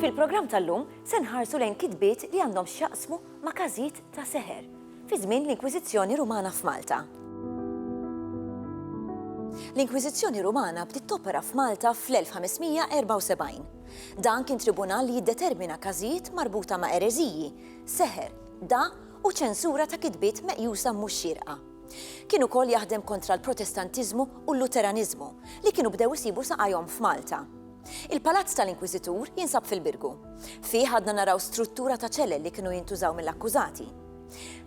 Fil-programm tal-lum se nħarsu lejn kitbiet li għandhom x'jaqsmu ma' każijiet ta' seħer fi żmien l-Inkwiżizzjoni Rumana f'Malta. L-Inkwiżizzjoni Rumana bdiet topera f'Malta fl-1574. Dan kien tribunal li jiddetermina każijiet marbuta ma' ereżiji, seħer, da u ċensura ta' kitbiet meqjusa mhux xierqa. Kien ukoll jaħdem kontra l-Protestantiżmu u l-Luteraniżmu, li kienu bdew isibu saqajhom f'Malta. Il-palazz tal-inkwiżitur jinsab fil-Birgu. Fih għadna naraw struttura ta' ċelel li kienu jintużaw mill-akkużati.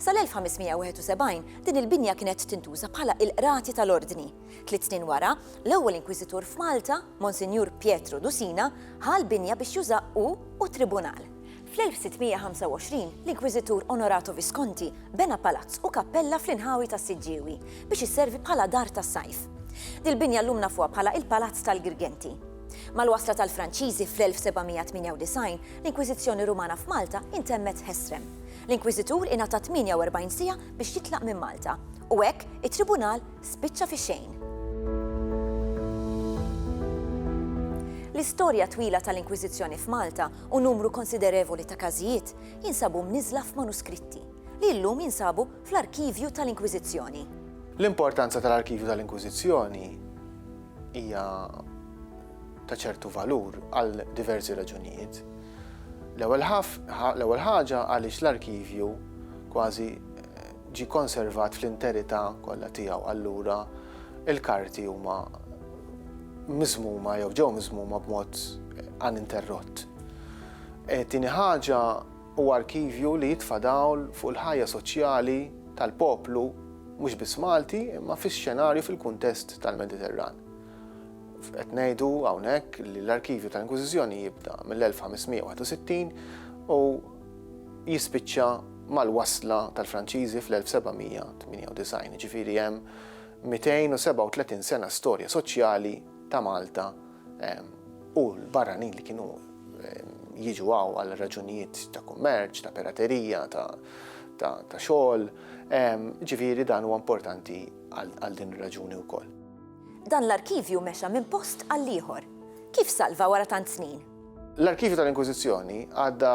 Sal-1571 din il-binja kienet tintuża bħala il-qrati tal-Ordni. Tliet snin wara, l-ewwel inkwiżitur f'Malta, Monsinjur Pietro Dusina, ħa l-binja biex juża hu u t-tribunal. Fl-1625, l-Inkwiżitur Onorato Visconti bena palazz u kappella fl-inħawi tas-Siġġiewi biex isservi bħala dar tas-sajf. Dil-binja llum nafuha bħala il-Palazz tal-Girgenti. Mal-wasla tal-Franċiżi fl-1798, l-Inkwiżizzjoni Rumana f'Malta intemmet f'Hestrem. L-Inkwiżitur ingħata 48 siegħa biex jitlaq minn Malta, u hekk it-Tribunal spiċċa fix-xejn. L-istorja twila tal-Inkwiżizzjoni f'Malta u numru konsiderevoli ta' każijiet jinsabu mniżżla f'manuskritti, li llum jinsabu fl-Arkivju tal-Inkwiżizzjoni. L-importanza tal-Arkivju tal-Inkwiżizzjoni hija ta' ċertu valur għal diversi raġunijiet. L-ewwel ħaġa għaliex l-Arkivju kważi ġie konservat fl-interità kollha tiegħu. Allura, il-karti huma miżmuma jew ġew miżmuma b'mod uninterrott. E, tieni ħaġa huwa arkivju li jitfa' dawl fuq il-ħajja soċjali tal-poplu mhux biss Malti, imma fix-xenarju fil-kuntest tal-Mediterran. Qed ngħidu hawnhekk li l-arkivju tal-Inkwiżizzjoni jibda mill-1561 u jispiċċa mal-wasla tal-Franċiżi fl-1798, jiġifieri hemm 237 sena storja soċjali ta' Malta u l-barranin li kienu jiġu hawn għal raġunijiet ta' kummerċ, ta' piraterija, ta' xogħol, jiġifieri dan huwa importanti għal din ir-raġuni wkoll. Dan l-arkivju mexa minn post għall-ieħor. Kif salva wara tant snin? L-arkivju tal-Inkwiżizzjoni għadda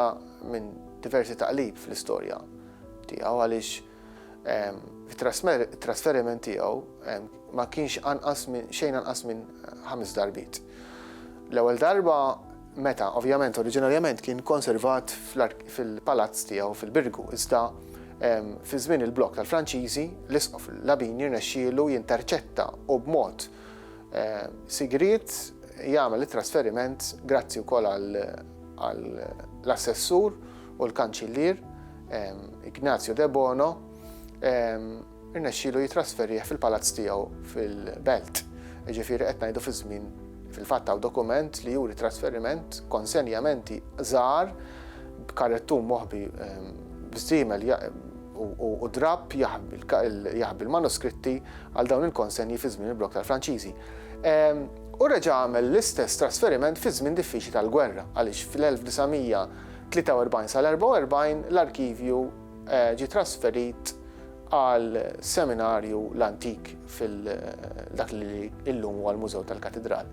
minn diversi taqlib fl-istorja tiegħu għaliex it-trasferiment tiegħu ma kienx anqas minn xejn anqas minn ħames darbiet. L-ewwel darba meta, ovvjament, oriġinarjament kien konservat fil-palazz tiegħu fil-Birgu, iżda fi żmien il-blokk tal-Franċiżi, l-Isqof Labini rnexxielu jinterċetta u b'mod sigriet jagħmel it-trasferiment grazzi wkoll għall-assessur u l-kanċillier Ignazio Debono irnexxielu jitrasferih fil-palazz tiegħu fil-Belt. Ġifieri qed ngħidu fi żmien fil-fatt hawn dokument li juri trasferiment konsenjamenti żgħar b'karettum moħbi b'żiemel u drapp jaħbi l-manuskritti għal dawn il-konsenji fi żmien il-blokk tal-Franċiżi. U reġa' għamel l-istess trasferiment fi żmien diffiċli tal-gwerra, għaliex fl-1943 sal-44 l-arkivju ġie trasferit għal seminarju l-antik fil-dak li illum huwa l-Mużew tal-Katidral.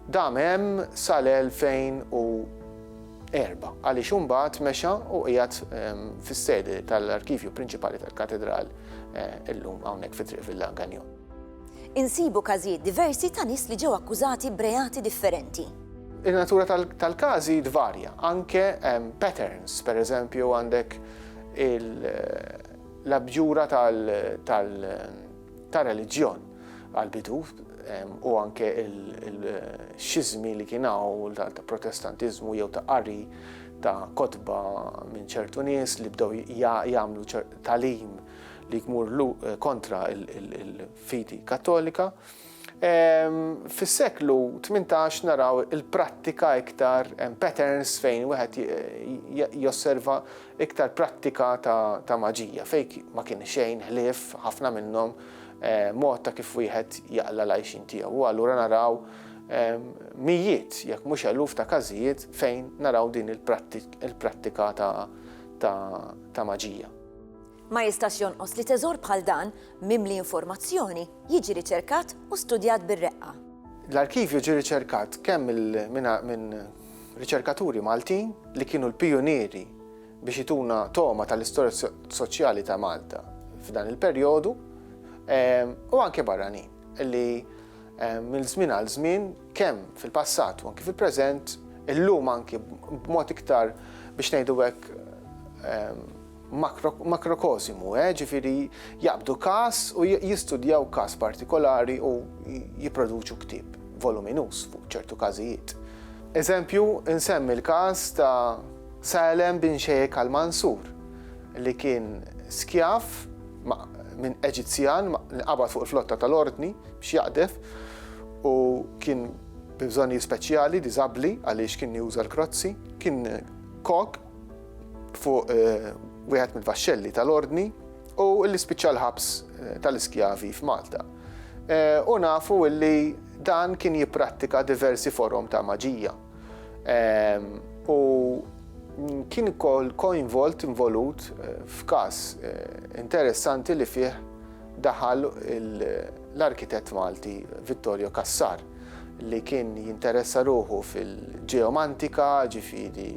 Dam hemm sal-2004, għaliex imbagħad mexa u qiegħed fis-sede tal-Arkivju Prinċipali tal-Katedral illum hawnhekk fi Triq Villa Gagnon. Insibu każijiet diversi ta' nies li ġew akkużati b'reati differenti. In-natura tal-każi tvarja, anke patterns, pereżempju għandek l-abjura tal-, ta' reliġjon għal-bidu u anke il-xizmi li kien hawn ta' protestantiżmu jew ta' qari ta' kotba minn ċertu nies li bdew jagħmlu talim li jmur kontra il-fidi kattolika. Fis-seklu 18 naraw il-prattika iktar patterns fejn wieħed josserva iktar prattika ta' maġija fejn ma kien xejn ħlief ħafna minnhom mod ta' kif wieħed jaqla' l-għajxien tiegħu. U allura naraw mijiet jekk mhux eluf ta' każijiet fejn naraw din il-prattika ta' maġija. Ma jistax jonqos li teżor bħal dan, mimli informazzjoni, jiġi riċerkat u studjat bir-reqqa. L-arkivju ġie riċerkat kemm minn riċerkaturi Maltin li kienu l-pijunieri biex ituna togħma tal-istorja soċjali ta' Malta f'dan il-perjodu ehm, u anke barranin li ehm, minn żmien għal żmien kemm fil-passat u anke fil-preżent illum anke b'mod iktar biex ngħidu hekk ehm, makrokosimu, eh, ġifieri jaqbdu każ u jistudjaw każ partikolari u jipproduċu ktieb voluminuż fuq ċertu każijiet. Eżempju, insemmi l-każ ta' Salem bin Sheikh al-Mansur, li kien skjav minn Eġizzjan li qabad fuq il-flotta tal-Ordni biex jaqdef u kien bi bżonnijiet speċjali, diżabbli għaliex kien juża l-krozzi, kien kok fuq wieħed mill-vaxxelli tal-Ordni u li spiċċa l-ħabs tal-iskjavi f'Malta. U nafu li dan kien jipprattika diversi forom ta' maġija. U kien kol koinvolt involut f'każ interessanti li fih daħal l-arkitett Malti Vittorio Cassar li kien jinteressa ruħu fil-ġeomantika, ġifiri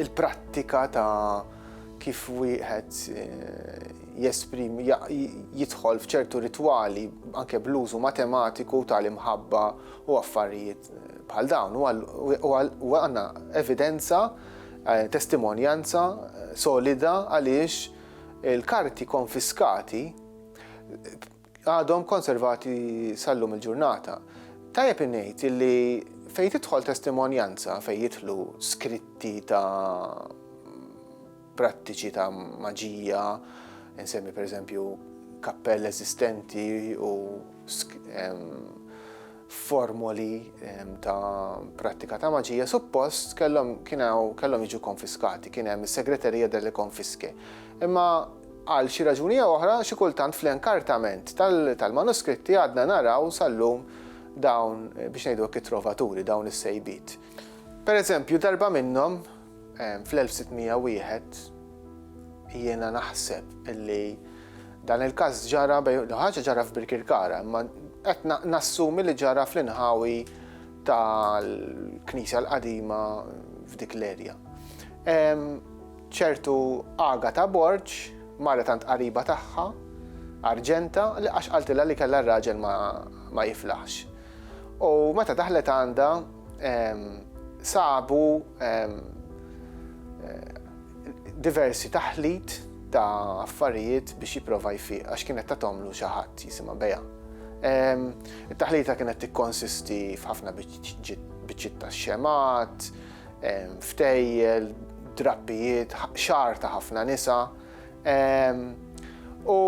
il-prattika ta' kif wieħed eh, jesprim, jidħol fċertu ritwali anke bl-użu matematiku tal-imħabba u affarijiet eh, bħal dawn. U għanna evidenza, eh, testimonjanza solida għaliex il-karti konfiskati għadhom konservati sal-lum il-ġurnata. Tajjeb ingħid illi fejn tidħol testimonjanza, fejn jidħlu skritti ta' prattiċi ta' maġija, insemmi pereżempju kappell eżistenti u formoli ta' prattika ta' maġija suppost kellhom kellhom jiġu konfiskati, kien hemm is-segreterija delle konfiske. Imma għal xi raġuni jew oħra xi kultant fl-inkartament tal-manuskritti għadna naraw sal-lum dawn biex ngħidu hekk it-trovaturi, dawn is-sejbiet. Per eżempju, darba minnhom, fl-1601, jiena naħseb illi dan il-każ ġara bejn ħaġa ġara f'Birkirkara, imma qed nassumi li ġara fl-inħawi tal-Knisja l-Qadima f'dik l-erja. ċertu Aga ta' Borġ, mara tant qariba tagħha, Arġenta, li għax qaltilha li kellha r-raġel ma jiflaħx. U meta daħlet għandha sabu diversi taħlit ta' affarijiet biex jipprova jfiq għax kienet ta' tomlu xi ħadd jisimha Beja. It-taħlita kienet tikkonsisti f'ħafna biċċiet ta' xemat, ftejjel, drappijiet, xar ta' ħafna nisa, U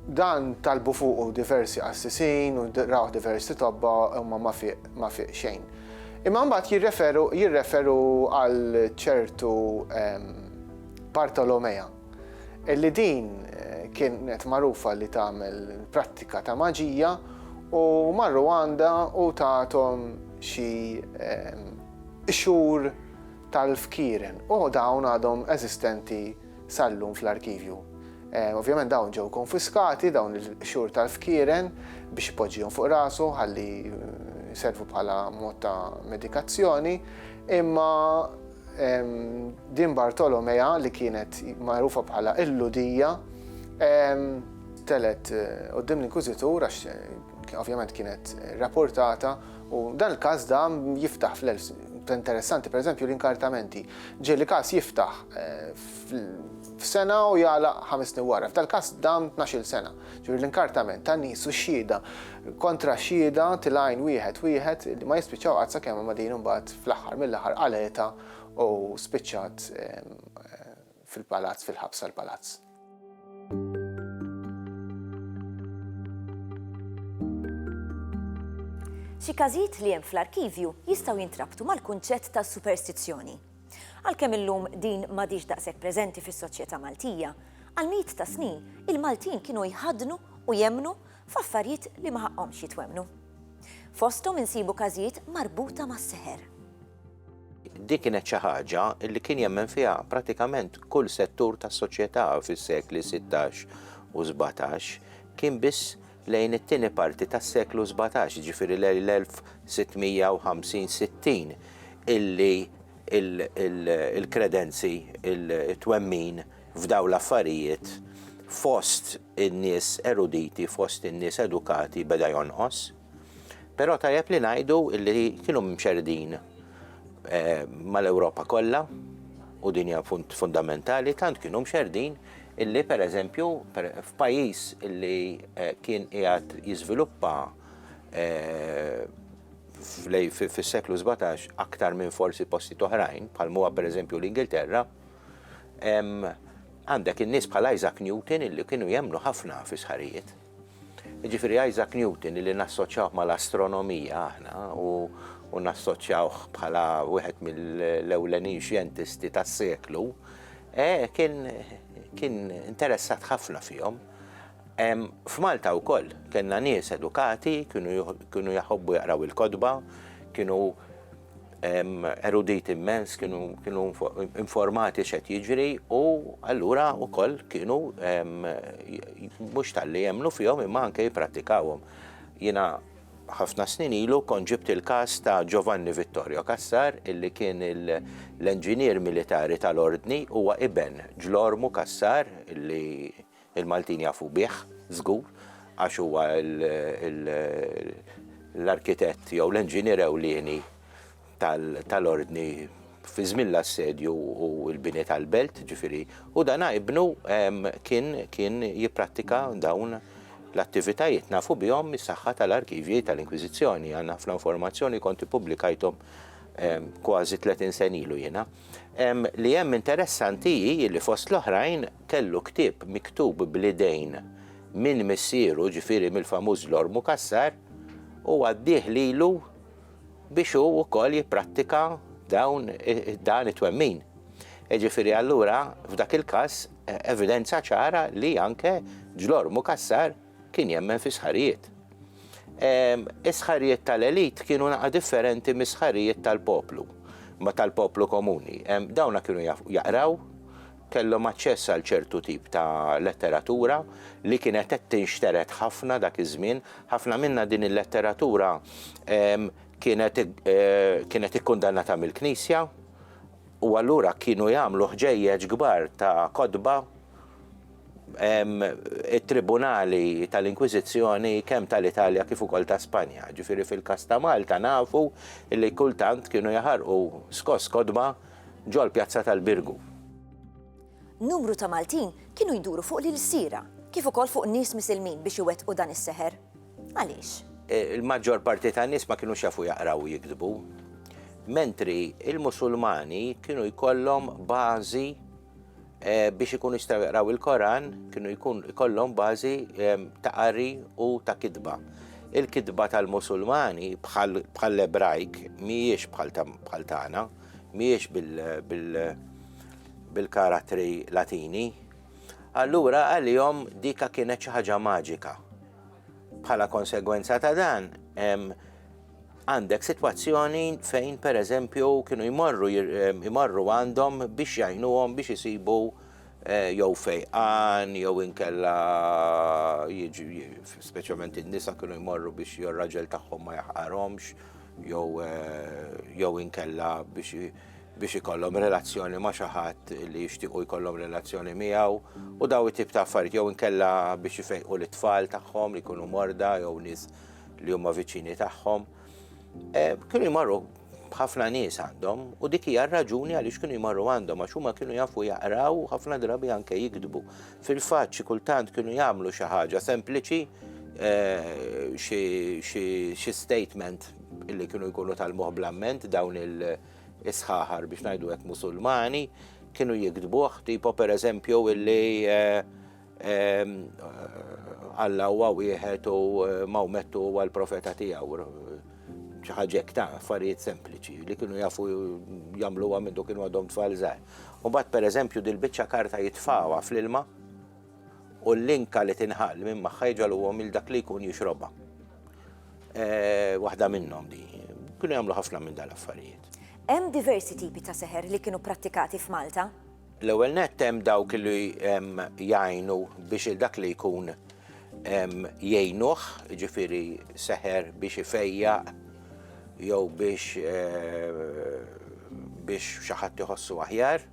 dan talbu fuqu diversi qassisin u rawh diversi tobba huma ma fiq ma fiq xejn. Imma mbagħad jirreferu jirreferu għal ċertu Bartolomea illi din kienet magħrufa li tagħmel prattika ta' maġija u marru għandha u tathom xi xhur tal-fkieren u dawn għadhom eżistenti sal-lum fl-arkivju. Ovvjament dawn ġew konfiskati dawn il-xhur tal-fkieren biex ipoġġihom fuq rasu ħalli jservu bħala mod ta' medikazzjoni, imma din Bartolomea li kienet magħrufa bħala il-ludija telet qudiem l-inkwiżitur għax Ovvjament kienet rapportata u dan il-każ da jiftaħ fl interessanti, per eżempju l-inkartamenti. Ġeli każ jiftaħ f'sena u jala ħames snin wara. F'tal każ dam 12 sena. Ġuri l-inkartament ta' nies u xhieda kontra xhieda tilajn wieħed wieħed li ma jispiċċaw qatt sakemm ma din imbagħad fl-aħħar mill-aħħar qaleta u spiċċat fil-palazz, fil-ħabs tal-palazz. Xi każijiet li hemm fl-arkivju jistgħu jintrabtu mal-kunċett ta' superstizzjoni. Għalkemm illum din m'għadhiex daqshekk preżenti fis-soċjetà Maltija, għal mijiet ta' snin il-Maltin kienu jħaddnu u jemmnu f'affarijiet li ma ħaqqhomx jitwemmnu. Fosthom insibu każijiet marbuta mas-seħer. Din kienet xi ħaġa li kien jemmen fiha pratikament kull settur tas-soċjetà fis-sekli sittax u sbatax. Kien biss lejn it-tieni parti tas-seklu sbatax, jiġifieri lejn l-1650, sittin, illi l-kredenzi, it-twemmin f'dawn l-affarijiet fost in-nies eruditi fost in-nies edukati beda jonqos, però tajjeb li ngħidu li kienu mxerrdin eh, mal-Ewropa kollha u din hija fundamentali tant kienu mxerrdin illi per eżempju f'pajjiż illi eh, kien qiegħed jiżviluppa eh, fis-seklu 17 aktar minn forsi posti oħrajn, bħal huwa per eżempju l-Ingilterra, Għandek in-nies bħal Isaac Newton illi kienu jemmnu ħafna fi sħarijiet. Ġifieri Isaac Newton illi nassoċjawh mal-astronomija aħna u nassoċjawh bħala wieħed mill-ewlenin xjentisti tas-seklu, e, kien kien interessat ħafna fihom. F'Malta wkoll kellna nies edukati, kienu jaħobbu jaqraw il-kotba, kienu eruditi immens, kienu informati x'qed jiġri u allura wkoll kienu mhux talli jemmnu fihom imma anke jipprattikawhom. Jiena ħafna snin ilu kont ġibt il-każ ta' Giovanni Vittorio Cassar illi kien l-enġinier militari tal-Ordni huwa iben Ġlormu Cassar illi Il-Maltin jafu bih, żgur, għax huwa l-arkitett jew l-enġinier ewlieni tal-Ordni fi żmien l-assedju u l-bini tal-belt, ġifieri, u dan ibnu kien jipprattika dawn l-attivitajiet, nafu bihom mis-saħħa tal-arkivji tal-Inkwiżizzjoni, għandna ħafna informazzjoni, kont ippubblikajthom kważi tletin sena ilu jiena. Li hemm interessanti hi li fost l-oħrajn, kellu ktieb miktub bl-idejn minn missieru, ġifieri mill-famuż Lord Mukassar, u għaddieh lilu biex hu wkoll jipprattika dawn dan it-twemmin. Jiġifieri allura f'dak il-każ evidenza ċara li anke Lord Mukassar kien jemmen fis-sħarijiet. Is-sħarijiet tal-elite kienu naqa' differenti mis-sħarijiet tal-poplu, ma' tal-poplu komuni. Dawna kienu jaqraw, kellhom aċċess għal ċertu tip ta' letteratura li kienet qed tinxtered ħafna dak iż-żmien. Ħafna minnha din il-letteratura kienet kienet ikkundannata mill-Knisja u allura kienu jagħmlu ħġejjeġ kbar ta' kotba it-tribunali tal-Inkwiżizzjoni kemm tal-Italja kif ukoll ta' Spanja. Ġifieri fil-każ ta' Malta nafu li kultant kienu jaħarqu skoss kotba ġol-Pjazza tal-Birgu. Numru ta' Maltin kienu jduru fuq l-ilsiera, kif ukoll fuq nies misilmin biex iwettqu dan is-seħer. Għaliex? Il-maġġor parti tan-nies ma kinux jafu jaqraw u jiktbu, mentri l-Musulmani kienu jkollhom bażi biex ikunu jistgħu jaqraw il-Koran kienu jkun ikollhom bażi ta' qari u ta' kitba. Il-kitba tal-Musulmani bħall-Ebrajk mhijiex bħal tagħna, mhijiex bil-karattri Latini. Allura għalihom dika kienet xi ħaġa maġika. Bħala konsegwenza ta' dan, Għandek sitwazzjoni fejn pereżempju kienu jmorru jmorru għandhom biex jgħinuhom biex isibu jew fejqan jew inkella speċjalment in-nisa kienu jmorru biex jew raġel tagħhom ma jaħqarhomx jew jew inkella biex biex ikollhom relazzjoni ma' xi ħadd li jixtiequ jkollhom relazzjoni miegħu u daw it-tip ta' affarijiet jew inkella biex ifejqu lit-tfal tagħhom li jkunu morda jew nies li huma viċini tagħhom, eh, kienu jmarru ħafna nies għandhom u dik hija raġuni għaliex kienu jmarru għandhom għax huma kienu jafu jaqraw u ħafna drabi anke jikdbu. Fil-fatt xi kultant kienu jagħmlu xi ħaġa sempliċi eh, xi statement illi kienu jkunu tal-moħ blamment dawn il-isħaħar biex ngħidu hekk musulmani kienu jikdbuh tipo per eżempju illi eh, Alla huwa wieħed u Mawmettu huwa l-profeta tiegħu. Xi ħaġa hekk ta' affarijiet sempliċi li kienu jafu jagħmluha minn kienu għadhom tfal żgħar. U mbagħad pereżempju dil-biċċa karta jitfawha fl-ilma u l-linka li tinħall minn magħha jġaluhom il dak li jkun jixrobha. Eh, waħda minnhom di. Kienu jagħmlu ħafna minn dal-affarijiet. Hemm diversi tipi ta' seħer li kienu prattikati f'Malta. L-ewwel nett hemm dawk li jgħinu biex il dak li jkun jgħinuh, jiġifieri seħer biex ifejjaq jew biex biex xi ħadd iħossu aħjar.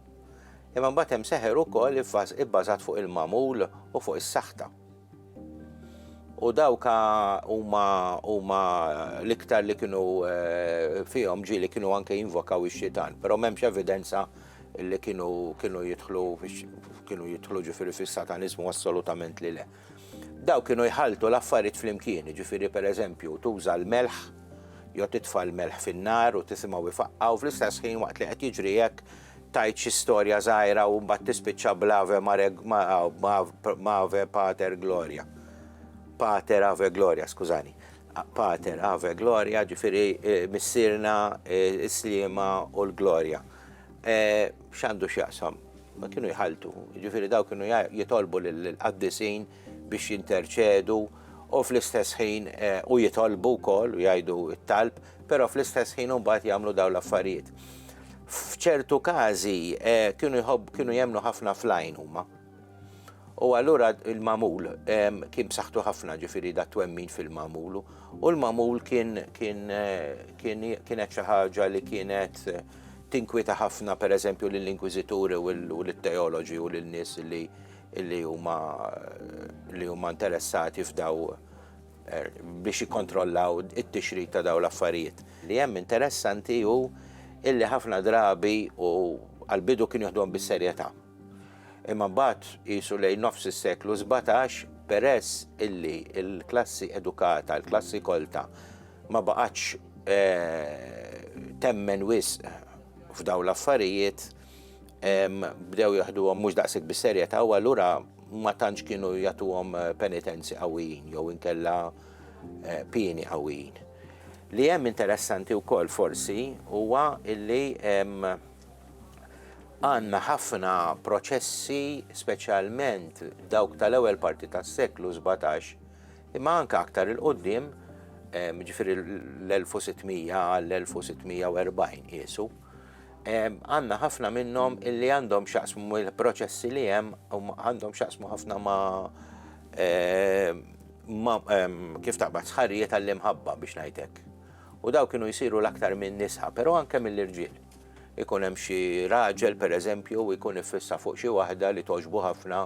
Imma mbagħad hemm seħer ukoll ibbażat fuq il-magħmul u fuq is-saħta. U dawk huma huma l-iktar li kienu fihom ġieli kienu anke jinvokaw ix-xitan, però m'hemmx evidenza li kienu kienu jidħlu kienu jidħlu ġifieri fis-sataniżmu assolutament li le. Daw kienu jħaltu l-affarijiet flimkien, ġifieri pereżempju tuża l-melħ jew titfa' l-melħ fin-nar u tisimgħu jfaqqa u fl-istess ħin waqt li qed jiġri hekk tajt xi storja żgħira u mbagħad tispiċċa bl-ave ma ave pater gloria. Pater ave gloria, skużani. Pater ave gloria, ġifieri eh, missirna eh, is-slima u l-glorja. X'għandu x'jaqsam? Ma kienu jħalltu, jiġifieri dawk kienu jitolbu lill-qaddisin biex jinterċedu u fl-istess ħin u jitolbu wkoll u jgħidu t-talb, però fl-istess ħin imbagħad jagħmlu dawn l-affarijiet. F'ċertu każi kienu jħobb kienu jemmnu ħafna fl-għajn huma. U allura il-magħmul kien b'saħħtu ħafna ġifieri da twemmin fil-magħmul u l-magħmul kien kien kienet xi ħaġa li kienet tinkwita ħafna pereżempju lill-inkwiżituri u lit-teoloġi u lil nies li li huma li huma interessati f'daw er, biex jikkontrollaw it-tixrid ta' daw l-affarijiet. Li hemm interessanti hu illi ħafna drabi u għal-bidu kien joħdhom bis-serjetà. Imma mbagħad qisu lejn nofs is-seklu sbatax, peress illi l-klassi edukata, l-klassi kolta, ma baqgħetx temmen wisq f'dawn l-affarijiet, bdew jaħduhom mhux daqshekk bis-serjetà u allura ma tantx kienu jagħtuhom penitenzi qawwijin jew inkella pieni qawwijin. Li hemm interessanti wkoll forsi huwa illi Għandna ħafna proċessi, speċjalment dawk tal-ewwel parti tas-seklu sbatax, imma anke aktar 'il quddiem, jiġifieri l-1600 għall-1640 qiesu, għandna ħafna minnhom li għandhom x'jaqsmu mill-proċessi li hemm għandhom x'jaqsmu ħafna ma' ma' kif taqbad, sħarijiet għall-imħabba biex ngħid hekk. U dawk kienu jsiru l-aktar min-nisa, però anke mill-irġiel. Ikun hemm xi raġel, per eżempju, u jkun iffissa fuq xi waħda li togħġbu ħafna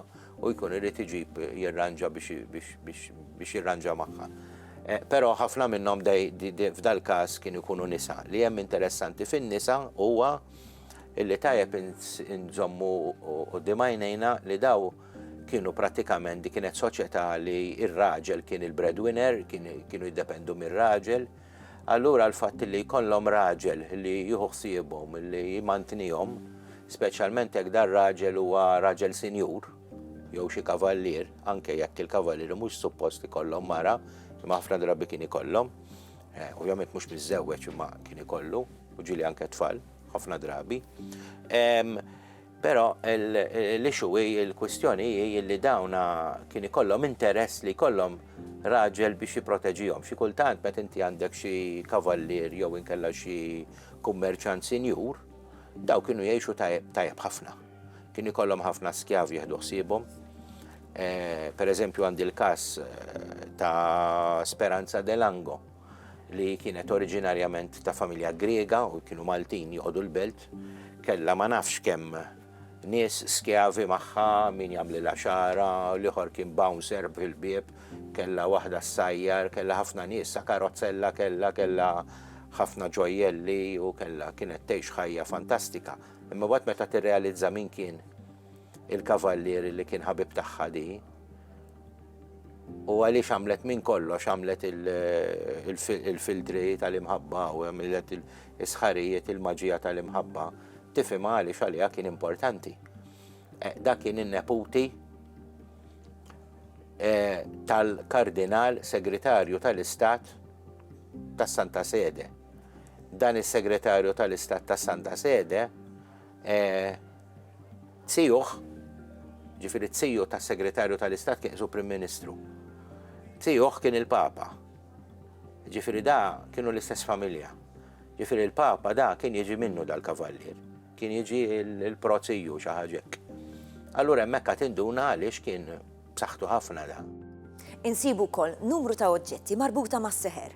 u jkun irid iġib jirranġa biex jirranġa magħha. Però ħafna minnhom f'dal-każ kienu jkunu nisa. Li hemm interessanti fin-nisa huwa li tajjeb inżommu quddiem għajnejna li dawn Kienu prattikament dik kienet soċjetà li r-raġel kien il-breadwinner, kienu jiddependu mir-raġel. Allura l-fatt li jkollhom raġel li jieħu ħsiebhom, li jmantnihom, speċjalment jekk dan raġel huwa raġel sinjur, jew xi kavallier, anke jekk il-kavallieri mhux suppost ikollhom mara, imma ħafna drabi kien ikollhom. Eh, ovvjament mhux miżżewweġ imma kien ikollu, u ġieli anke tfal, ħafna drabi. Però l-issue hi, il-kwistjoni hi illi dawn kien ikollhom interess li jkollhom raġel biex jipproteġihom. Xi kultant meta inti għandek xi kavallier jew inkella xi kummerċant sinjur, dawn kienu jgħixu tajjeb ħafna. Kien ikollhom ħafna skjavi jieħdu ħsiebhom. Pereżempju għandi l-każ ta' Speranza Delango. li kienet oriġinarjament ta' familja Griega u kienu Maltin joqogħdu l-belt, kellha ma nafx kemm nies skjavi magħha min jagħmlilha xara, l-ieħor kien bouncer fil-bieb, kellha waħda ssajjar, kellha ħafna nies, sa karozzella kellha, kellha ħafna ġojjelli u kellha kienet tgħix ħajja fantastika. Imma waqt meta tirrealizza min kien il-kavallieri li kien ħabib tagħha di. U għaliex għamlet minn kollox għamlet il-filtri tal-imħabba u għamlet il-sħarijiet il-maġija tal-imħabba, tifim għaliex għalija kien importanti. Eh, da kien in-neputi eh, tal-kardinal segretarju tal-istat tas Santa Sede. Dan is-segretarju tal-istat tas Santa Sede Tiegħuh, jiġifieri t-tiju tas-Segretarju tal-Istat kien qisu Prim Ministru. Tiegħuh kien il-Papa. Jiġifieri da kienu l-istess familja. Jiġifieri l-Papa da kien jiġi minnu dal-Kavallier. Kien jiġi l-pro tiju, xi ħaġa hekk. Allura hemmhekk għad tinduna għaliex kien B'saħħtu ħafna dan. Insibu wkoll numru ta' oġġetti marbuta mas-seħer.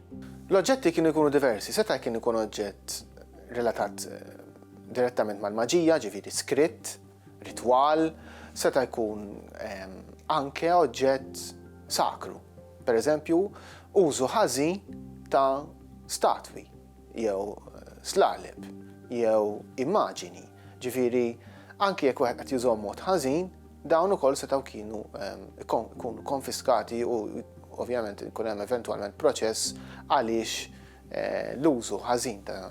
L-oġġetti kienu jkunu diversi, seta' kien ikun oġġett relatat direttament mal-maġija, ġifieri skritt, ritwal, seta' jkun anke oġġett sakru. Per eżempju, użu ħażin ta' statwi jew slaleb jew immaġini. Ġifieri anke jekk wieħed qed jużhom mod ħażin, Dawn ukoll setgħu kienu jkunu konfiskati u ovvjament ikun hemm eventwalment proċess għaliex eh, l-użu ħażin ta'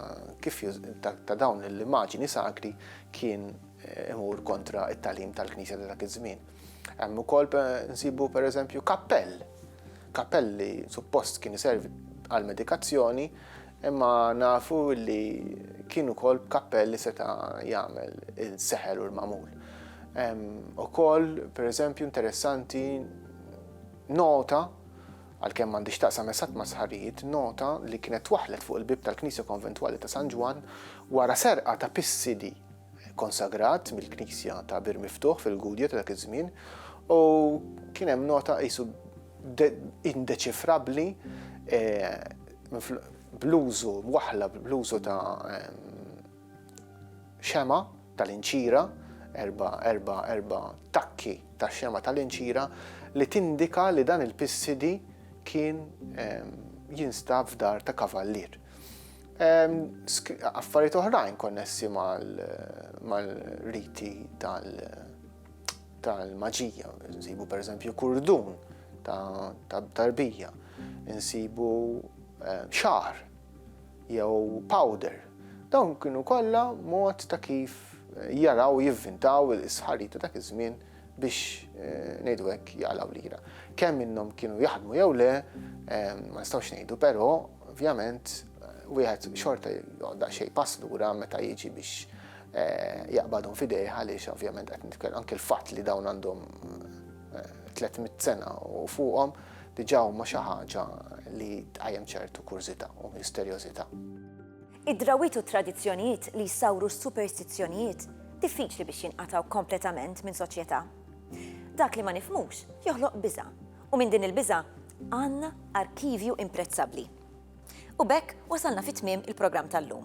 kif ta' dawn l-immaġini sakri kien eh, imur kontra it-talim tal-Knisja ta' dak iż-żmien. Hemm ukoll nsibu pereżempju kappell. Kappell li suppost kien iservi għal medikazzjoni Imma nafu li kien ukoll b'kappell li seta' jagħmel il-seħer u l-magħmul. Ukoll, pereżempju, interessanti nota għalkemm m'għandix taqsam esatt ma' sħarijiet, nota li kienet twaħħlet fuq il-bieb tal-Knisja Konventwali ta' San Ġwann wara serqa ta' pissidi konsagrat mill-Knisja ta' Bir Miftuħ fil-Gudja ta' dak iż-żmien u kien hemm nota qisu indeċifrabbli bl-użu waħla bl-użu ta' xema' tal-inċira, erba' erba' erba' takki ta' xema' tal-inċira li tindika li dan il-pissidi kien jinstab f'dar ta' kavallier. Affarijiet oħrajn konnessi mal-riti tal- tal-maġija, nsibu per eżempju kurdun ta' tarbija, nsibu eh, xar jew powder. Dawn kienu kollha mod ta' kif eh, jaraw jivvintaw il-sħarita ta' iż-żmien biex eh, ngħidu hekk jaqlaw lira. Kemm minnhom kienu jaħdmu jew le, ma nistgħux ngħidu, però ovvjament wieħed xorta joqda xejn pass lura meta jiġi biex jaqbadhom f'idejh għaliex ovvjament qed nitkellmu anke l-fatt li dawn għandhom 300 sena u fuqhom diġà huma xi ħaġa li tqajjem ċertu kurżità u misterjożità. Id-drawwiet u t-tradizzjonijiet li jsawru s-superstizzjonijiet diffiċli biex jinqatgħu kompletament minn soċjetà. Dak li ma nifhmux joħloq biża', u minn din il-biża' għandna arkivju imprezzabbli. U b'hekk wasalna fi tmiem il-programm tal-lum.